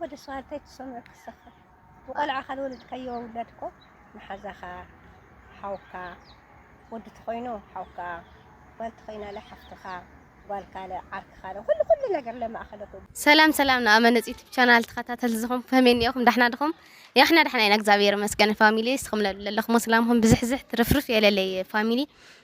ወዲ ሰው ኣንታይ ትሰምዑ ክሰኽር ብቆልዓ ካልወለድካዮ ውላድ እኮ መሓዛኻ ሓውካ ወዲ ተኾይኑ ሓውካ ጓል ተኾይናለ ሓፍትኻ ጓልካለ ዓርክኻለ ኩሉ ኩሉ ነገር ለማእኸለ ኩሉ ሰላም ሰላም ንኣመነጽ ዩቱብ ቻናል ተኸታተልቲ ዝኾም ከመይ እኒኦኹም ዳሕና ድኹም ያሕና ዳሕና ኢና እግዚኣብሔር ይመስገን ፋሚሊ እስኹም ለለኹም ሰላምኹም ብዝሕዝሕ ትርፍርፍ የለለይ ፋሚሊ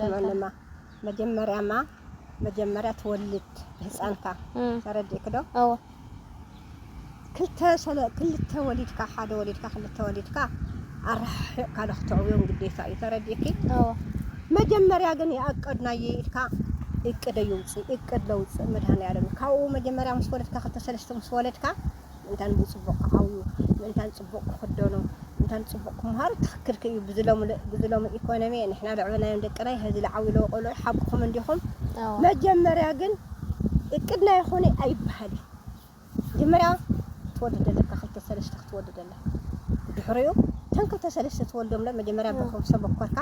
ስመንማ መጀመርያማ መጀመርያ ትወልድ ህፃንካ ተረዲእኪ ዶ ክልተ ክልተ ወሊድካ ሓደ ወሊድካ ክልተ ወሊድካ ኣረሓሒቕካ ዶ ክተዕብዮም ግዴታ እዩ ተረዲእኪ መጀመርያ ግን ይኣቀድናየ ኢልካ እቅደ ይውፅእ እቅድ ለውፅእ መድሃኒኣለም ካብኡ መጀመርያ ምስ ወለድካ ክልተ ሰለስተ ምስ ወለድካ እንታን ብጽቡቕ ክዓብዩ፣ ምእንታን ጽቡቕ ክኽደኑ፣ ምእንታን ጽቡቕ ክመሃሩ ትኽክል ክዩ። ብዚ ሎሚ ኢኮኖሚ ንሕና ዘዕበናዮም ደቅናይ ሀዚ ልዓብዩ ለዉ ቆልዑ ሓቅኹም እንዲኹም። መጀመርያ ግን እቅድና ይኹን ኣይበሃል እዩ። መጀመርያ ትወልድ ኣለካ ክልተ ሰለስተ ክትወልድ ኣለካ። ድሕሪኡ እተን ክልተ ሰለስተ ትወልዶም መጀመርያ ብኹም ሰብ ወከርካ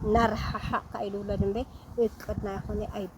እናረሓሓቕካ እዩ ዝውለድ እምበይ እቅድና ይኹን ኣይበሃል።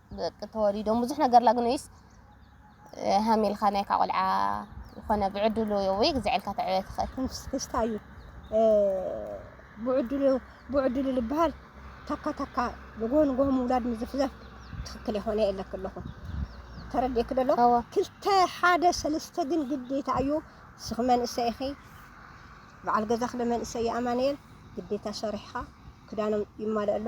ደቂ ተወሊዶም ብዙሕ ነገር ላግንዩስ ሃሚልካ ናይካ ቆልዓ ይኾነ ብዕድሉ ወይ ግዝዐልካ ተዕበ ትኽእል ስክስታ እዩ ብዕድሉ ብዕድሉ ልበሃል ታካ ታካ ንጎን ጎን ምውላድ ምዝፍዘፍ ትክክል የኾነ የለክ ኣለኹ ተረዲእክ ደሎ ክልተ ሓደ ሰለስተ ግን ግዴታ እዩ ስኽ መንእሰይ ኢኺ በዓል ገዛኽ ለመንእሰይ ኣማንኤል ግዴታ ሰሪሕኻ ክዳኖም ይማልእ ኣሎ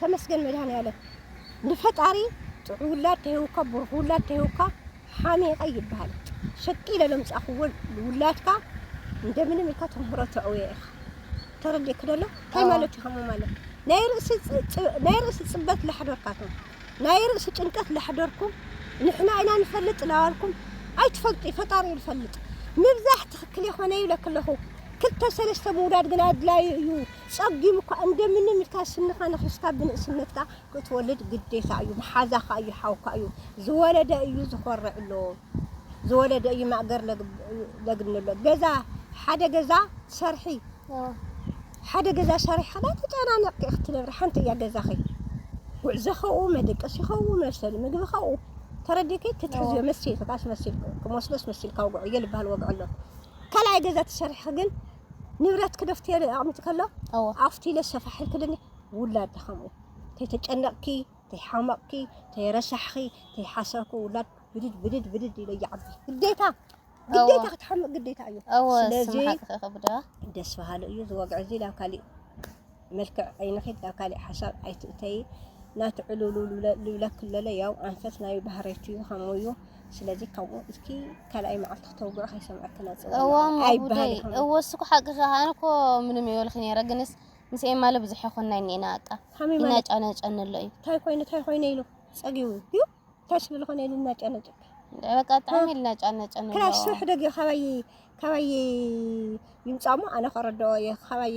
ተመስገን መድሃኒኣለም ንፈጣሪ ጥዑይ ውላድ ተሂቡካ ብሩኽ ውላድ ተሂቡካ ሓሚቐ ኣይብሃልን ሸቅ ኢለ ለምጻኹዎ ውላድካ እንደምንም ኢልካ ተምህሮ ተዕውዮ ኢኻ ተረዲእኪ ዶ ኣሎ እንታይ ኣዎ ማለት እዩ ከምኡ ማለት ናይ ርእሲ ጽ- ጽ- ናይ ርእሲ ጽበት ላሕደርካትም ናይ ርእሲ ጭንቀት ላሕደርኩም ንሕና ኢና ንፈልጥ ላዋልኩም ኣይትፈልጡ እዩ ፈጣሪ እዩ ዝፈልጥ ምብዛሕ ትኽክል የኾነ ይብለኪ ኣለኹ ክልተ ሰለስተ ምውላድ ግን ኣድላዩ እዩ ጸጊም እኳ እንደምንም ኢልካ ስንኻ ነኺስካ ብንእስነትካ ክትወልድ ግዴታ እዩ መሓዛኻ እዩ ሓውካ እዩ ዝወለደ እዩ ዝኾርዕሎ ዝወለደ እዩ ማእገር ለግንሎ ገዛ ሓደ ገዛ ሰርሒ ሓደ ገዛ ሰሪሕኻ ዳኣ ተጨናኒቕኪ ኢኺ ትነብሪ ሓንቲ እያ ገዛኺ ጉዕዞኸኡ መደቀሲኸኡ መብሰሊ ምግብኸኡ ተረዲኪ ክትሕዝዮ መሲልኪ ኣስመሲልኪ ክመስሎ ኣስመሲልካ ውግዕዮ ልባሃል ወግዕሎ ካልኣይ ገዛ ተሰሪሕኺ ግን ንብረት ክደፍትዮ ኣቕሚቲ ከሎ ኣፍቲ ኢለ ሰፋሕ ኢልክልኒ ውላድ ድኸምኡ ተይተጨነቕኪ ተይሓመቕኪ ተይረሳሕኺ ተይሓሰርኩ ውላድ ብድድ ብድድ ብድድ ኢለ ይዓቢ ግዴታ ግዴታ ክትሓምቕ ግዴታ እዩ ስለዚ ደስ በሃሊ እዩ ዝወግዕ እዚ ናብ ካሊእ መልክዕ ኣይንኺድ ናብ ካሊእ ሓሳብ ኣይትእተዪ ናቲ ዕሉሉሉ ልብለኪ ለለ ያው ኣንፈት ናይ ባህሪት እዩ ከምኡ እዩ ስለዚ ካብኡ እስኪ ካልኣይ መዓልቲ ክተውግዑ ከይሰምዐኪ ነፅው እዎ እሞ ጉደይ ኣይበሃል ይኸውን እዎ እሱ እኮ ሓቅኺ ኣነ እኮ ምንም ይበልኺ ነይረ ግንስ ምስ ኤማለ ብዙሕ ኣይኮንና እኒኤና ኣቃ ከመይ ማለት ይናጫነጨኒ ኣሎ እዩ እንታይ ኮይኑ እንታይ ኮይነ ኢሉ ፀጊቡ እዩ እንታይ ስለዝኾነ ኢሉ እናጨነጨኪ በቃ ብጣዕሚ ይናጫነጨኒ ኣሎ ክላስ ስራሕ ደጊ ካባይ ካባይ ይምፃእ እሞ ኣነ ከረድኦ እየ ካባይ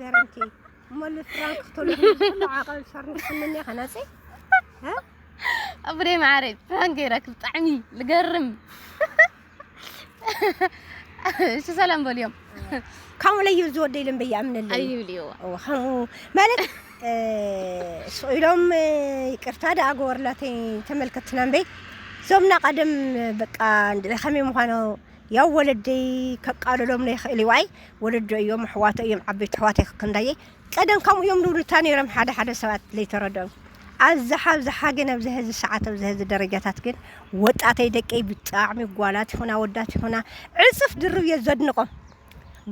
ገረንቲ እሞ ልፍራንክ ክትልኹ ኩሉ ዓቐብ ሰርንክስምኒ ከነፂ ኣብሬ ማዓረይ ፕራንክ ገይረክ ብጣዕሚ ልገርም እሺ ሰላም በልዮም ከምኡ ለዩ ዝወደ ኢሎም በይኣምንለይ ኣይብልዎ ከምኡ ማለት ስኢሎም ይቅርታ ደኣ ገበርላተይ ተመልከትና እምበይ ዞምና ቀደም በቃ ከመይ ምዃኑ ያው ወለደይ ከቃልሎም ለይክእል እዩ ዋይ ወለዶ እዮም ኣሕዋቶ እዮም ዓበይቲ ኣሕዋተይ ከከንዳየይ ቀደም ከምኡ እዮም ዝብሉ እታ ነይሮም ሓደ ሓደ ሰባት ለይተረድኦም ኣብዝሓ ኣብዝሓ ግን ኣብዚ ሀዚ ሰዓት ኣብዚ ሀዚ ደረጃታት ግን ወጣተይ ደቀይ ብጣዕሚ ጓላት ይኹና ወዳት ይኹና ዕፅፍ ድርብ እየ ዘድንቆም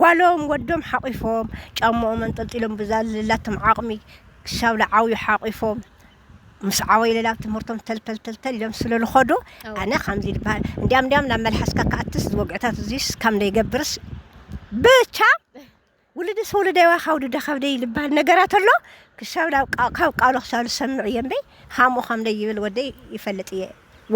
ጓሎም ወዶም ሓቂፎም ጫማኦም ኣንጠልጢሎም ብዛ ዘለላቶም ዓቕሚ ክሳብ ዝዓብዩ ሓቂፎም ምስ ዓወይለል ኣብ ትምህርቶም ተልተልተልተል ኢሎም ስለ ልኸዱ ኣዎ ኣነ ከምዚ ልበሃል እንዲያም እንዲያም ናብ መልሓስካ ክኣትስ እዚ ወግዕታት እዙይስ ካም ደይገብርስ ብቻ ውልድስ ወለደይ ወይ ካብ ወለደ ካብ ደይ ልበሃል ነገራት ኣሎ ክሳብ ናብ ካብ ቃሉ ክሳብ ልሰምዕ እየ እምበይ ሃምኡ ከምደይ ይብል ወደይ ይፈልጥ እየ።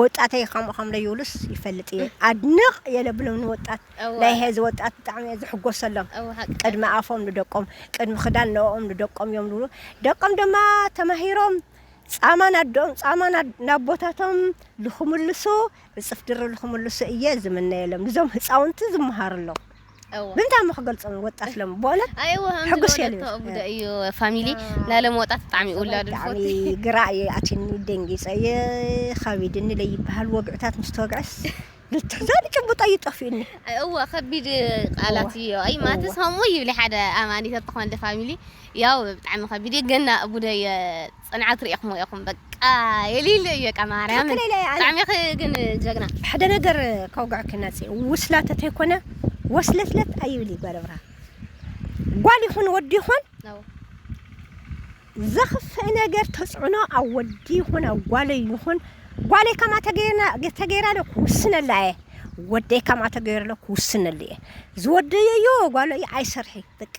ወጣተይ ከምኡ ከም ለይብሉስ ይፈልጥ እየ ኣድንቅ እየ ለብሎም ንወጣት እወ ናይ ሀዚ ወጣት ብጣዕሚ እየ ዝሕጎሰሎም እወ ሓቂ ቅድሚ ሓቂ ኣፎም ንደቆም ቅድሚ ክዳን ንኦም ንደቆም እዮም ዝብሉ ደቆም ድማ ተማሂሮም ጻማ ናደኦም ጻማ ና- ናቦታቶም ልክምልሱ ዕጽፍ ድርብ ልክምልሱ እየ ዝምነየሎም ንዞም ህጻውንቲ ዝመሃርሎም ብእንታ እሞ ክገልጾም ወጣት ሎም በእውነት ሕጉስ እየ ልብል ቡዳ እዩ ፋሚሊ ናይ ሎም ወጣት ብጣዕሚ ውላዱ ብጣዕሚ ግራ እዩ ኣትኒ ደንጊጸ እየ ከቢድኒ ለይበሃል ወግዕታት ምስ ተወግዐስ ብትሕዛኒ ጭቡጥ እዩ ጠፊኡኒ እወ ከቢድ ቃላት እዩ ኣይ ማትስ ከምኡ ይብሊ ሓደ ኣማኒት ተኾን ፋሚሊ ያው ብጣዕሚ ከቢድ እዩ ገና ቡዳ እየ ጽንዓት ሪኢክሞ ኢኩም በቃ የልይልይ እዩ በቃ ማርያምን ትክክል ኢለ ኣነ ብጣዕሚ ኢኪ ግን ጀግና። ሕደ ነገር ከውግዐኪ ናፂ ውስላ ተተይኮነ ወስለትለት ኣይብል እዩ ጓል ኣብርሃ ጓል ይኹን ወዲ ይኹን ነው ዘኽፍእ ነገር ተፅዕኖ ኣብ ወዲ ይኹን ኣብ ጓለይ ይኹን ጓለይ ከምኣ ተገይርና ተገይራ ዶ ክውስነላ እየ ወደይ ከምኣ ተገይሩ ዶ ክውስነሉ እየ ዝወደዮ እዩ ጓሎ እዩ ኣይሰርሒ በቃ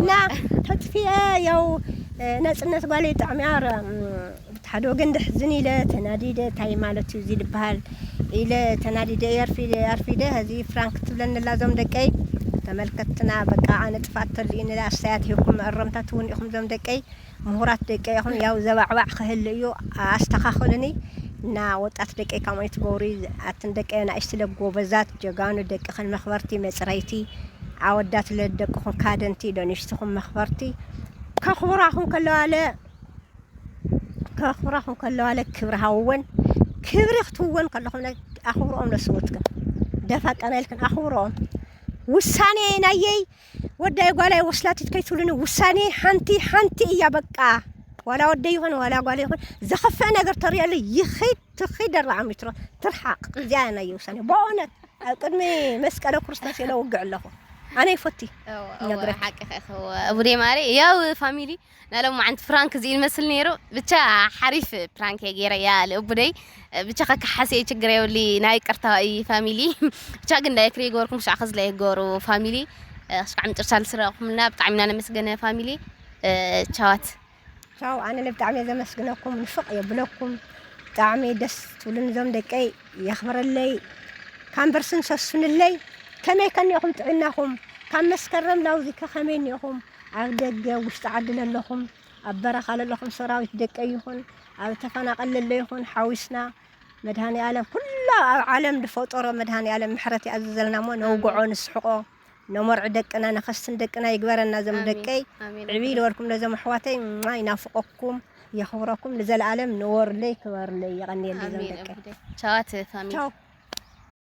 እና ተጥፊኤ ያው ነጽነት ጓለይ ጥዕምያ ብታሓደ ወገን ደሕዝን ኢለ ተናዲደ ታይ ማለት እዩ እዚ ድበሃል ኢለ ተናዲደ ኣርፊደ ሀዚ ፍራንክ ትብለኒ ኣላ ዞም ደቀይ ተመልከትና በቃ ኣነ ጥፍኣት ተልእዩኒ ኣስተያየት ሂብኩም መእረምታ ትውን ኢኹም ዞም ደቀይ ሙሁራት ደቀይ ኢኩም ያው ዘባዕባዕ ክህሊ እዩ ኣስተካክሉኒ እና ወጣት ደቀይ ካምኡ ኣይትገብሩ ኣትን ደቀይ ኣናእሽቲ ለ ጎበዛት ጀጋኑ ደቅክን መክበርቲ መፅረይቲ ኣወዳት ለ ደቅኩም ካደንቲ ደንሽትኩም መክበርቲ ከክብራኩም ከለዋ ለ ከክብራኩም ከለዋ ለ ክብሪ ሃውወን ክብሪ ክትውወን ከለኩም ለ ኣክብርኦም ለስውትክን ደፋ ቀና ኢልክን ኣክብርኦም ውሳኔ ናየይ ወዳይ ጓላይ ወስላቲት ከይትብሉኒ ውሳኔይ ሓንቲ ሓንቲ እያ በቃ ዋላ ወደይ ይኹን ዋላ ጓል ይኹን ዘኸፍእ ነገር ተሪኦሉ ይኺድ ትኺድ ኣርባዓ ሜትሮ ትርሓቕ እዚኣ እያ ናይ ውሳኔ በእውነት ኣብ ቅድሚ መስቀለ ክርስቶስ ኢለ ውግዕ ኣለኹ ኣነ ይፈቲ ነግረካ ሓቂ ከኸው ቡዴ ማሪ ያው ፋሚሊ ናይ ሎማዓንቲ ፍራንክ እዚ'ዩ ዝመስል ነይሩ ብቻ ሓሪፍ ፕራንክ እየ ገይረያ ልኡቡደይ ብቻ ከካሓስ እየ ችግር የብሊ ናይ ቅርታ እዩ ፋሚሊ ብቻ ግን ላይክ ዘይገበርኩም ክሻዕ ከዚ ላይክ ገበሩ ፋሚሊ ክሻዕ ምጭርሻ ዝስረቕኩምና ብጣዕሚ ኢና ነመስገነ ፋሚሊ ቻዋት ቻው ኣነ ብጣዕሚ እየ ዘመስግነኩም ንፍቕ የብለኩም ብጣዕሚ ደስ ትብሉን እዞም ደቀይ የኽብረለይ ካምበርስን ሰሱንለይ ከመይ ከኒኹም ጥዕናኹም ካብ መስከረም ላውዚከ ከመይ እኒኹም ኣብ ደገ ውሽጢ ዓዲ ለለኹም ኣብ በረኻ ለለኹም ሰራዊት ደቀይ ይኹን ኣብ ተፈናቐል ለለ ይኹን ሓዊስና መድሃኒ ኣለም ኩላ ኣብ ዓለም ዝፈጠሮ መድሃኒ ኣለም ምሕረት ይኣዝዘልና እሞ ነውግዖ ንስሕቆ ነሞርዒ ደቅና ነኸስትን ደቅና ይግበረና ዘም ደቀይ ዕብይ ልበልኩም ነዘም ኣሕዋተይ ማ ይናፍቀኩም የኽብረኩም ንዘለኣለም ንወርለይ ክበርለይ የቐንየለይ ዘም ደቀይ ቻዋት ፋሚሊ